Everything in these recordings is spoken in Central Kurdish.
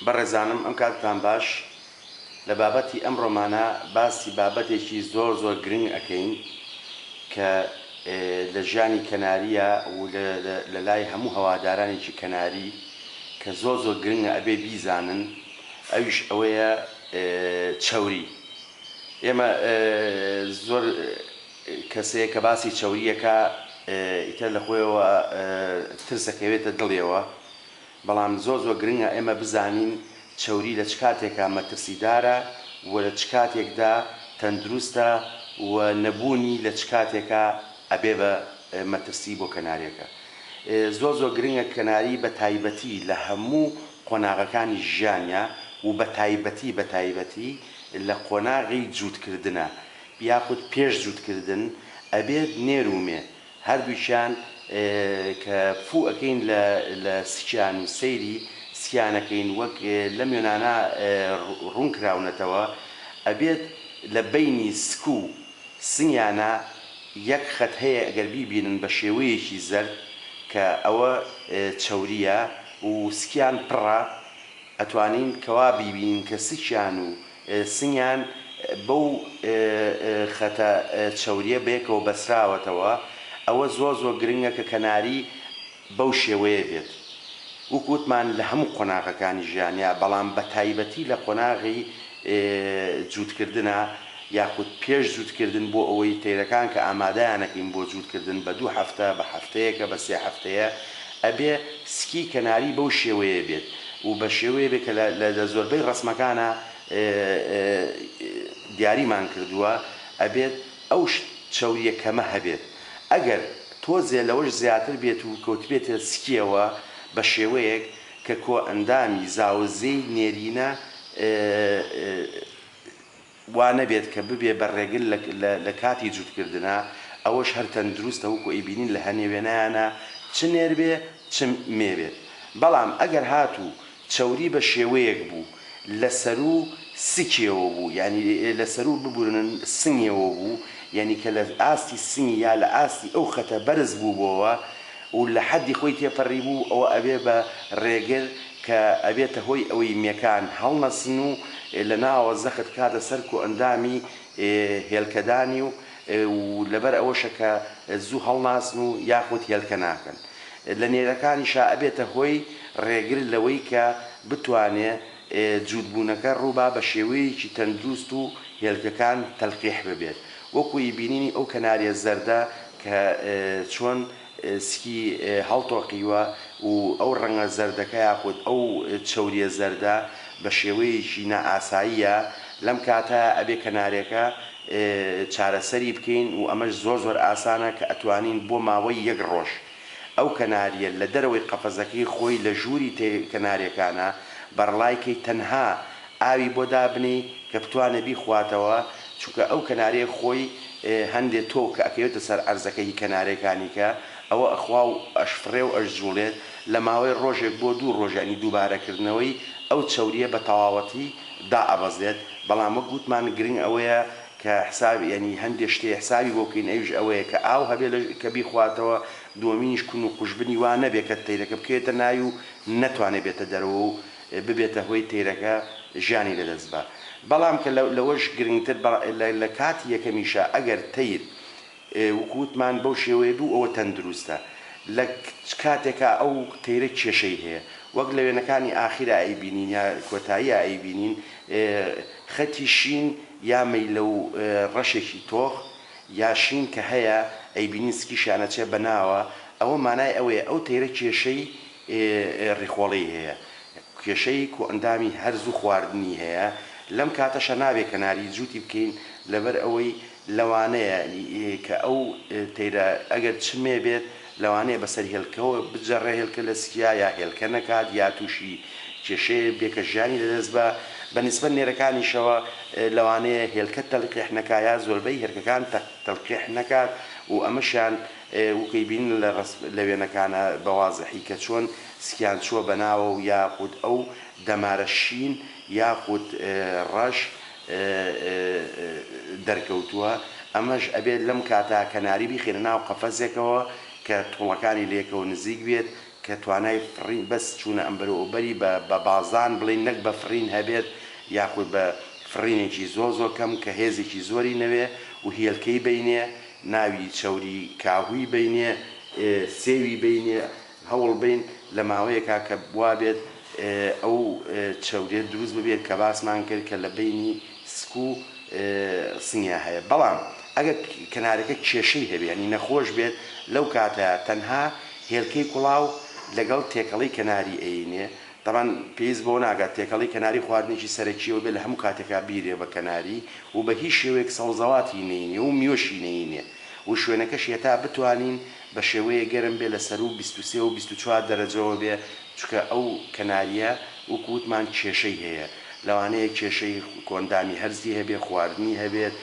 بەڕێزانم ئەم کاتتان باش لە بابەتی ئەم ڕۆمانە باسی بابەتێکی زۆر زۆر گرنگ ئەکەین کە لە ژیانی کەناریە و لە لای هەموو هەوادارانێکی کەناری کە زۆر زۆر گرنگە ئەبێ بیزانن ئەویش ئەوەیە چەوری ئێمە زۆر کەسەیە کە باسی چەوریەکە ئیتر لە خۆیەوە ترسەکەوێتە دڵێەوە. بەڵام زۆر زۆر گرنگە ئێمە بزانین چەوری لە چ کاتێکا مەترسیدارە و لە چ کاتێکدا تەندروستە و نەبوونی لە چ کاتێکا ئەبێ بە مەترسی بۆ کەناریەکە زۆر زۆر گرنگە کەناری بە تایبەتی لە هەموو قۆناغەکانی ژیانیا و بە تایبەتی بە تایبەتی لە قۆناغی جووتکردنا یاخود پێش جووتکردن ئەبێت نێر و مێ هەردووکیان کە فوو ئەکەین لە لە سکیان و سەیری سکیان ئەکەین وەک لەم وێنانە ڕوون کراونەتەوە ئەبێت لە بەینی سک و سنگیانا یەک خەت هەیە ئەگەر بیبینن بە شێوەیەکی زەرد کە ئەوە چەورییە و سکیان پڕە ئەتوانین کەوا بیبینین کە سکیان و سنگیان بەو خەتە چەوریە بەیەکەوە بەسراوەتەوە ئەوە زۆر زۆر گرنگە کە کەناری بەو شێوەیە بێت وەکو وتمان لە هەموو قۆناغەکانی ژیانیا بەڵام بە تایبەتی لە قۆناغی جووتکردنا یاخود پێش جووتکردن بۆ ئەوەی تەیرەکان کە ئامادەیانەکەین بۆ جووتکردن بە دوو هەفتە بە هەفتەیەکە بە سێ هەفتەیە ئەبێ سکی کەناری بەو شێوەیە بێت و بە شێوەیە بێت کە لە لە زۆربەی ڕەسمەکانا دیاریمان کردووە ئەبێت ئەو چەوریە کەمە هەبێت ئەگەر تۆزێ لەوەش زیاتر بێت و کەوتبێتە سکیەوە بە شێوەیەک کە کۆئەندامی زاوزێی نێرینە وا نەبێت کە ببێ بە رێگر لە لە کاتی جووت کردنا، ئەوەش هەر تەندروستە وەکو ئەیبینین لە هەنێ وێنایانا چ نێر بێ چ مێ بێت، بەڵام ئەگەر هاتوو چەوری بە شێوەیەک بوو لە سەروو سکیەوە بوو یانی لە سەروو ببورن سنگێوە بوو یانی کە لە ئاستی سنگی یا لە ئاستی ئەو خەتە بەرز بووبۆوە و لە حەدی خۆی تێپەریبوو ئەوە ئەبێ بە رێگر کە ئەبێتە هۆی ئەوەی مێکان هەڵنەسن و لە ناوەوە زەخت بکاتە سەر کۆئەندامی هێلکەدانی و لەبەر ئەوەشە کە زوو هەڵناسن و یاخود هێلکە ناکەن لە نێرەکانیشا ئەبێتە هۆی ڕێگر لەوەی کە بتوانێ جووتبوونەکە ڕووبا بە شێوەیەکی تەندروست و هێلکەکان تەلقیح ببێت وەکوو ی بینینی ئەو کەناریە زەردە کە چۆن سکی هەڵتۆقیوە و ئەو ڕەنگە زەردەکە یاخود ئەو چەورییە زەردە بە شێوەیەکی نائاساییە، لەم کاتەیا ئەبێ کەنارێکە چارەسەری بکەین و ئەمەش زۆر زۆر ئاسانە کە ئەتوانین بۆ ماوەی یەک ڕۆژ ئەو کەنارییە لە دەرەوەی قەفەزەکەی خۆی لە ژووری کەنارێکانە بەڕڵای کەی تەنها ئاوی بۆ دابنێی کە بتوانێ بیخواتەوە چونکە ئەو کەنارەیە خۆی هەندێ تۆو کە ئەکەوێتە سەر عەرزەکە هی کەنارەکانی کە ئەوە ئەخوا و ئەشفڕێ و ئەشجوڵێت لە ماوەی ڕۆژێک بۆ دوو ڕۆژ یانی دووبارە کردنەوەی ئەو چەوریە بە تەواوەتی دائەبەزێت بەڵام وەک وتمان گرنگ ئەوەیە کە حساب یانی هەندێ شتێ حسابی بۆ بکەین ئەویش ئەوەیە کە ئاو هەبێ لە کە بیخواتەوە دووەمینیش کون و قوژبنی وا نەبێ کە تەیرەکە بکەوێتە ناوی و نەتوانێ بێتە دەرەوە و ببێتە هۆی تەیرەکە ژیانی لەدەست با بەڵام کە لەوەش گرنگتر لە کاتی یەکەمیشا ئەگەر تەیر وەکو وتمان بەو شێوەیە بوو ئەوە تەندروستە لە کاتێکا ئەو تەیرە کێشەی هەیە وەک لە وێنەکانی ئاخیرا ئەیبینین یا کۆتاییا ئەیبینین خەتی شین یا مەیلە و ڕەشێکی تۆخ یا شین کە هەیە ئەیبینین سکیشیان ئەچێ بە ناوە ئەوە مانای ئەوەیە ئەو تەیرە کێشەی ئێ ڕیخۆڵێی هەیە کێشەی کۆئەندامی هەرس و خواردنی هەیە لەم کاتەشە نابێ کەناری جووتی بکەین لەبەر ئەوەی لەوانەیە کە ئەو تەیرە ئەگەر چرمێ بێت لەوانەیە بەسەر هێلکەوە بجەڕێ هێلکە لەسکیا یا هێلکە نەکات یا تووشی کێشەیە بێ کە ژیانی لەدەست با بە نیسبەت نێرەکانیشەوە لەوانەیە هێلکە تەلقیح نەکا یا زۆربەی هێرکەکان تەلقیح نەکات و ئەمەشیان وکەی بینن لە رەسم لە وێنەکانە بە وازحی کە چۆن سکیان چووە بە ناوە و یاخود ئەو دەمارە شین یاخود رەش دەرکەوتووە ئەمەش ئەبێت لەم کاتا کەناری بیخەینە ناو قەفەزێکەوە کە توڵەکانی لە یەکەوە نزیک بێت کە توانای فڕین بەس چوونە ئەمبەرو ئەوبەری بە بە بازدان بڵێین نەک بە فڕین هەبێت یاخود بە فڕینێکی زۆر زۆر کەم کە هێزێکی زۆری نەوێ و هێلکەی بینێ ناوی چەوری کاهوی بینێ سێوی بینێ هەوڵ بین لە ماوەیەکا کە بوابێت ئەو چەورێ دروست ببێت کە باسمان کرد کە لە بینی سکو سنگیا هەیە بەڵام ئەگەر کەنارەکە کێشەی هەبێ یانی نەخۆش بێت لەو کاتە تەنها هێلکەی کوڵاو لەگەڵ تێکەڵەی کەناری ئەینێ تەبعەن پێویست بەوە ناکات تێکەڵی کەناری خواردنێکی سەرەکی ئەوەبێت لە هەموو کاتێکا بیرێ بە کەناری و بە هیچ شێوەیەک سەوزەواتی نەینێ و میوەشی نەینێ و شوێنەکەشی هەتا بتوانین بە شێوەیەک گەرم بێ لە سەروو بیست و سێ و بیست و چوار دەرەجەوە بێ چونکە ئەو کەناریە وەکو وتمان کێشەی هەیە لەوانەیە کێشەی کۆئەندامی هەرسی هەبێ خواردنی هەبێت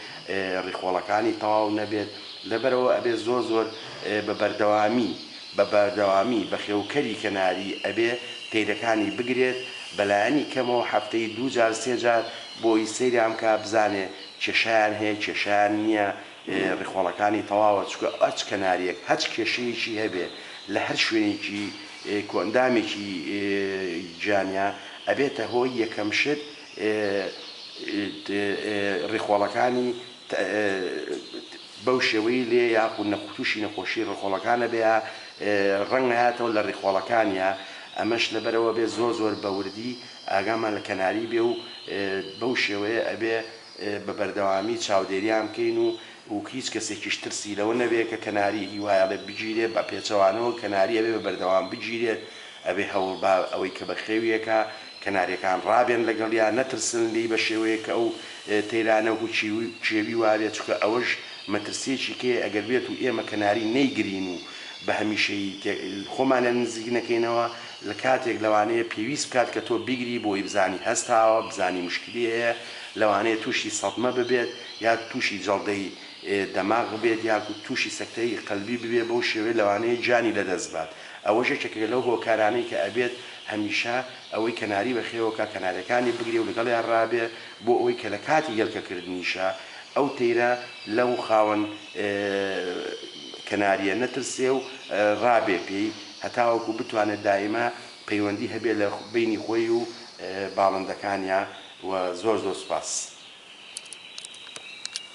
ڕیخۆڵەکانی تەواو نەبێت لەبەرئەوە ئەبێ زۆر زۆر بە بەردەوامی بە بەردەوامی بەخێوکەری کەناری ئەبێ پەیرەکانی بگرێت بەلایەنی کەمەوە هەفتەی دوو جار سێ جار بۆی سەیریان بکا بزانێ کێشەیان هەیە کێشەیان نیە ریخۆڵەکانی تەواوە چونکە هەچ کەناریەک هەچ کێشەیەکی هەبێ لە هەر شوێنێکی کۆئەندامێکی گیانیا ئەبێتە هۆی یەکەم شت ریخۆڵەکانی بەو شێوەی لێ یاخود نەخ تووشی نەخۆشی ڕیخۆڵەکانە بێ ڕەنگە هاتەوە لە ڕیخۆڵەکانیا ئەمەش لەبەرەوە بێ زۆر زۆر بەوردی ئاگامان لە کەناری بێ و بەو شێوەیە ئەبێ بە بەردەوامی چاودێریان بکەین و و هیچ کەسێکیش ترسی لەوە نەبێ کە کەناری هیوایەڵێ بگیرێ بە پێچەوانەوە کەناری ئەبێ بە بەردەوام بگیرێت ئەبێ هەوڵ با ئەوەی کە بەخێویەکە کەناریەکان ڕابێن لەگەڵیا نەترسن لێی بەشێوەیەک کە ئەو تەیرانە و کێوی وابێت چونکە ئەوەش مەترسیەکی کەیە ئەگەر بێت و ئێمە کەناری نەیگرین و بەهەمیشەیی خۆمان لە نزیک نەکەینەوە لەکاتێک لەوانەیە پێویست بکات کە تۆ بیگری بۆی بزانی هەستاوە بزانی مشکلی هەیە لەوانەیە توشی سەدمە ببێت یا توشی جەڵدەی دەماغ ببێت یاخود توشی سەکتەی قەلبی ببێت بەو شێوەیە لەوانەیە گیانی لەدەست بات ئەوەش یەکێکە لەو هۆکارانەی کە ئەبێت هەمیشە ئەوەی کەناری بەخێوەکا کەنارەکانی بگرێ و لەگەڵیان ڕابێ بۆ ئەوەی کە لە کاتی هێلکەکردنیشا ئەو تەیرە لەو خاوەن کەنارییە نەترسێ و ڕابێ پێی هەتاوەکو بتوانێ دایمە پەیوەندی هەبێ لە بەینی خۆی و باڵندەکانیا و زۆر زۆر سوپاس.